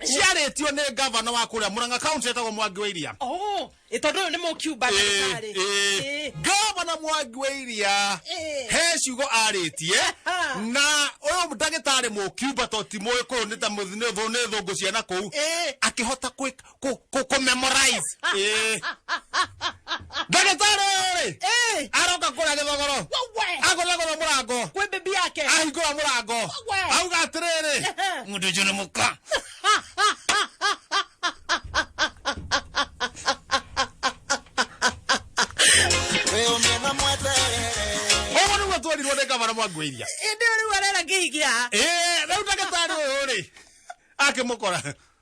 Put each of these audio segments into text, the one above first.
ciarĩtio nĩ ngavana wa kũrĩa mũrang'a kaunti etagwo mwangi wa iria Oh, ĩ tondũ ũyũ nĩ mũkiumba ndagĩtarĩ. Ĩ. ngavana mwangi wa iria Ĩ. he ciugo arĩtie Aha. na ũyũ ndagĩtarĩ mũkiumba to ti mũĩ kũyũ nĩ ta mũthi- nĩ thũ- nĩ thũngũ ciana kũu Ĩ. akĩhota kwĩ- kũ- kũ- kũmemorize Eh. ndagĩtarĩ rĩ Eh, aroka kũrĩa gĩthogoro wewe agũthagũra mũrango kwĩ bibi yake ahingũra mũrango Wewe. auga atĩrĩrĩ Ehe. mũndũ ũcio nĩ mũka ũguo nĩguo twerirwo nĩ gavana mwangwĩria ĩndĩ rĩu arera kĩhikia rĩu ndagĩtarĩ ũyũ rĩ akĩmũkora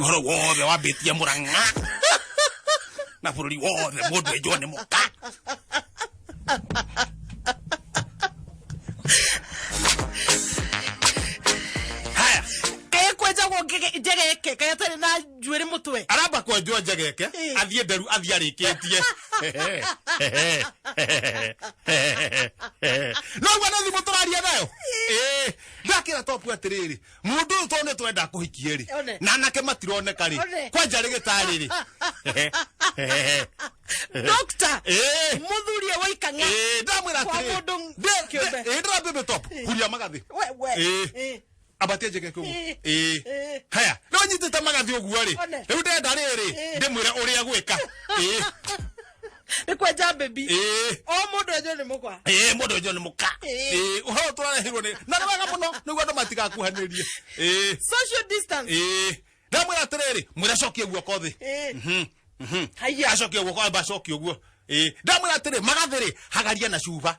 ũhoro wothe wambĩtie mũrang'a na bũrũri wothe mũndũ enjwo nĩ mũka haya kaya kwenjagwo ngege- njegeke kaya tarĩ na njuĩrĩ mũtwe aramba kwenjwo njegeke Eh. athiĩ nderu athiĩ arĩkĩtie noguo no thimũ tũraria nayo Eh, ndakĩra topu atĩrĩrĩ mundu uyu tone twenda kuhikie ri One. na anake matironeka ri One. kwanja ri gitari ri Doctor, Eh. muthuri ũyũ waikang'a. Eh, ndamwira Kwa atiri mũndũ kĩũmbe. ndrambe mitopo huria magathi We, we. Eh. Eh. abatie njeke kugu Eh. eh Eh. haya no nyitite magathi uguo ri One. riu ndenda riri Eh. ndimwire uria gwika eh nä kwenja mbebi Ĩĩ. o må ndå enjwo nä må kwa Ĩĩ, mũndũ ũnjũ nĩ mũka Ĩĩ. Ĩĩ, ũhoro twarehirwo nĩ na nĩ wega mũno nĩguo andũ matigakuhanĩrie Ĩĩ, social distance ĩĩ. ndamwĩra atĩrĩrĩ mwĩra acokie guoko thĩ Ĩĩ. Mhm, mhm. Haiya. acokie guoko amba acokie ũguo Ĩĩ. ndamwĩra atĩrĩ magathĩrĩ hagaria na cuba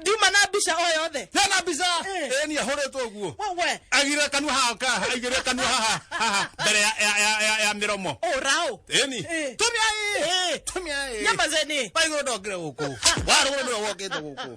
ndiuma na mbica o yothe tena mbica Eh. ĩni ahũrĩtwo ũguo wewe agire kanua haha ka- aigire kanua haha haha mbere ya- ya- ya- ya- ya mĩromo ũraũ ĩni Eh. tumia ĩ Eh. tumia ĩ nyamazeni waigũrũ ndokire gũkũ warũgũrũ nĩwe wokĩte gũkũ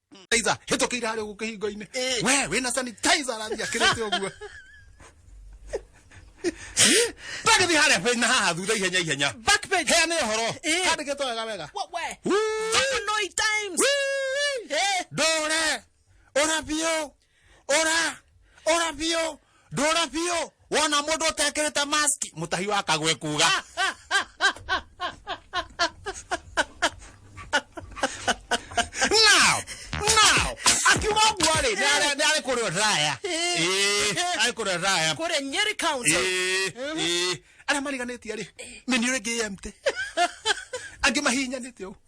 sanitizer hĩtũkĩire harĩa ũguo kĩhingo-inĩ Eh. we wĩna sanitizer arathiĩ akĩrĩte ũguo tagĩthiĩ harĩa benji na haha thutha ihenya ihenya Back page. heane ũhoro Eh. handĩkĩtwo wega wega Wa- we. Woo! Tanoi Times. Woo! Eh. ndore ũrabio ũra ũra biũ ndũra biũ wona mũndũ ũtekĩrĩte mask mũtahi wa kagwe kuga now now akiuga ũguo rĩ nĩ arĩ- nĩ arĩ kũrĩa raya Ĩĩ, arĩ kũrĩa raya kore nyeri county Ĩĩ, ĩĩ. arĩa mariganĩtie rĩ mĩniũrĩ ngĩ empty angĩ mahinyanĩte ũguo